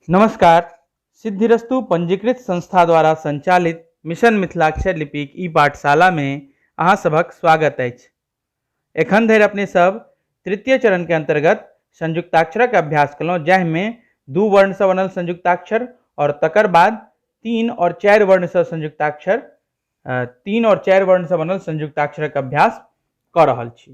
नमस्कार सिद्धिरस्तु पंजीकृत संस्था द्वारा संचालित मिशन मिथिलाक्षर लिपिक ई पाठशाला में अहाँ सभक स्वागत अछि एखन धरि अपने सब तृतीय चरण के अंतर्गत संयुक्ताक्षरक अभ्यास केलहुँ जाहिमे दू वर्णसँ बनल संयुक्ताक्षर आओर तकर बाद तीन आओर चारि वर्णसँ संयुक्ताक्षर तीन और चारि वर्ण से बनल संयुक्ताक्षरक अभ्यास कऽ रहल छी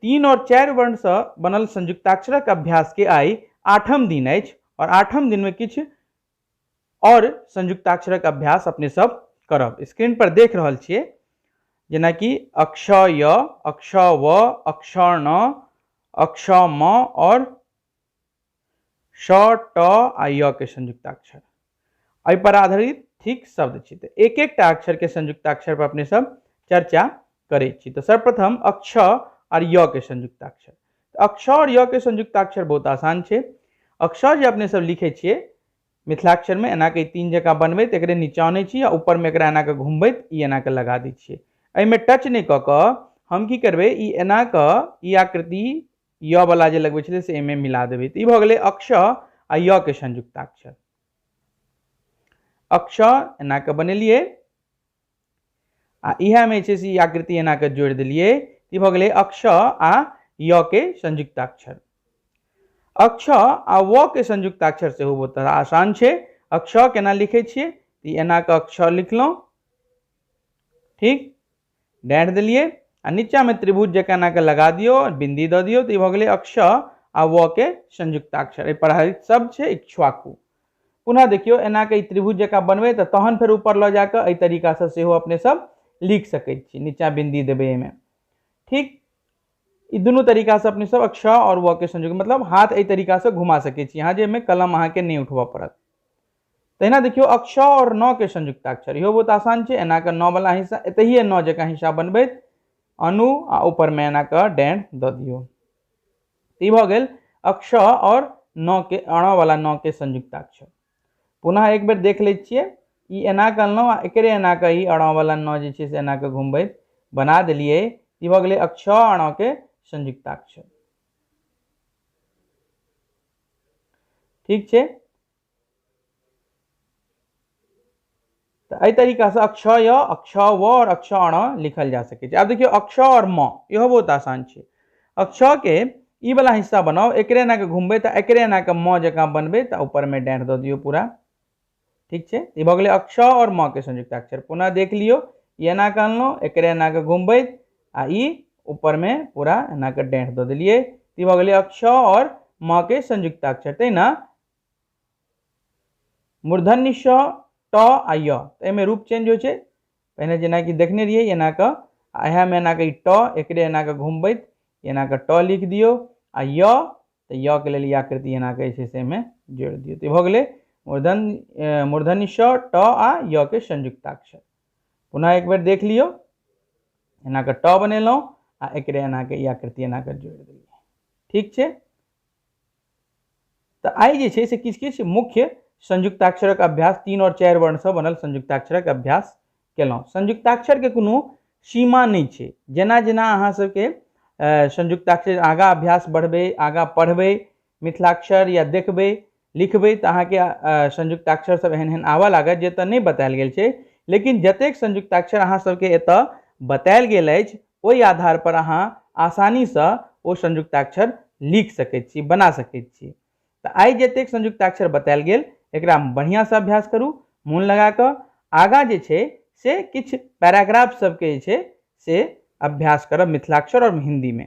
तीन और चारि वर्ण से बनल संयुक्ताक्षरक अभ्यास के आई आठम दिन अछि और आठम दिन में किछु और संयुक्ताक्षरक अभ्यास अपने सब करब स्क्रीन पर देख रहल छियै जेनाकि अक्ष य अक्ष व अक्ष न अक्ष म और श ट आ य के संयुक्ताक्षर एहि पर आधारित थिक शब्द छी तऽ एक एकटा अक्षर के संयुक्ताक्षर पर अपने सब चर्चा करे छी तऽ सर्वप्रथम अक्ष और य के संयुक्ताक्षर तऽ अक्ष और य के संयुक्ताक्षर बहुत आसान छै अक्ष जे अपने सब लिखे छियै मिथिलाक्षर में एना के तीन जकाँ बनबैत एकरे नीचा आनै छी आ ऊपर में एकरा एना के घुमबैत ई एना के लगा दै छियै एहिमे टच नहि कऽ कऽ हम की करबै ई एना कऽ ई आकृति य वाला जे लगबे छलै से एहिमे मिला देबै तऽ ई भऽ गेलै अक्ष आ य के संयुक्ताक्षर अक्ष एना के बनेलिए आ इहा में छै से आकृति एना के जोड़ दिलिए ई भऽ गेलै अक्ष आ य के संयुक्ताक्षर अक्ष आ व के संयुक्ताक्षर सेहो बहुत आसान छै अक्ष केना लिखे छे एना के अक्ष लिखलहुँ ठीक डैड देलिए आ नीचा में त्रिभुज जका ना के लगा दियो बिंदी द दियो तो भ गेले अक्ष आ व के संयुक्ताक्षर ए पर आधारित शब्द छे इक्ष्वाकु पुनः देखियो एना के त्रिभुज जका बनबे तो तहन फिर ऊपर ल जाके ए तरीका से सेहो अपने सब लिख सके छी नीचा बिंदी देबे में ठीक ई दुनू तरीका से अपने सब अक्ष और व के संयुक्त मतलब हाथ ए तरीका से घुमा सके छी यहाँ जे में कलम अहाँ के नहीं उठबऽ पड़त तहिना देखियौ अक्ष आओर नओ के संयुक्ताक्षर इहो बहुत आसान छै एना कऽ नओ वला हिस्सा एतहिए नओ जकाँ हिस्सा बनबैत अनु आ ऊपरमे एना कऽ डैन दऽ दियौ ई भऽ गेल अक्ष आओर नओ के अणा वाला नओ के संयुक्ताक्षर पुनः एक बेर देख लै छियै ई एना कऽ अनलहुँ आ एकरे एना कऽ ई अणा वाला नओ जे छै से एना कऽ घुमबैत बना देलियै ई भऽ गेलै अक्ष अणा के संयुक्ताक्षर ठीक छै तऽ एहि तरीकासँ अक्ष य अक्ष व आओर अक्ष अण लिखल जा सकै छै आब देखियौ अक्ष आओर म इहो बहुत आसान छै अक्षके ई वाला हिस्सा बनाओ एकरे एना के घूमबे तो एकरे एना के म जकाँ बनबे तो ऊपर में डाँट दऽ दियो पूरा ठीक है ई भऽ गेलै अक्ष और म के संयुक्ताक्षर पुनः देख लियो ई एना के अनलहुँ एकरे एना के घूमबे आ ई ऊपर में पूरा एना के डाँट दऽ दिलिए ई भऽ गेलै अक्ष और म के संयुक्ताक्षर तहिना मूर्धन्य श ट आ य तऽ एहिमे रूप चेंज होइ छै पहिने जेनाकि देखने रहियै एना कऽ आ इएहमे एना कऽ ई ट एकरे एना कऽ घुमबैत एना कऽ ट लिख दियौ आ य तऽ य के लेल ई आकृति एना कऽ जे छै से एहिमे जोड़ि दियौ तऽ ई भऽ गेलै मूर्धन मूर्धन्य श ट आ य के संयुक्ताक्षर पुनः एक बेर देख लियौ एना कऽ ट बनेलहुँ आ एकरे एना कऽ ई आकृति एना कऽ जोड़ि देलियै ठीक छै तऽ आइ जे छै से किछु किछु मुख्य संयुक्ताक्षरक अभ्यास तीन आओर चारि वर्णसँ बनल संयुक्ताक्षरक अभ्यास केलहुँ संयुक्ताक्षरके कोनो सीमा नहि छै जेना जेना अहाँसभके संयुक्ताक्षर आगाँ अभ्यास बढ़बै आगाँ पढ़बै मिथिलाक्षर या देखबै लिखबै तऽ अहाँके संयुक्ताक्षरसभ एहन एहन आबय लागत जे एतय नहि बतायल गेल छै लेकिन जतेक संयुक्ताक्षर अहाँसभके एतय बतायल गेल अछि ओहि आधार पर अहाँ आसानी सँ ओ संयुक्ताक्षर लिख सकैत छी बना सकैत छी तऽ आइ जतेक संयुक्ताक्षर बतायल गेल एकरा बढ़िया सँ अभ्यास करू मोन लगा कऽ आगा जे छै से किछु पैराग्राफ सबके जे छै से अभ्यास करब मिथिलाक्षर और हिन्दी में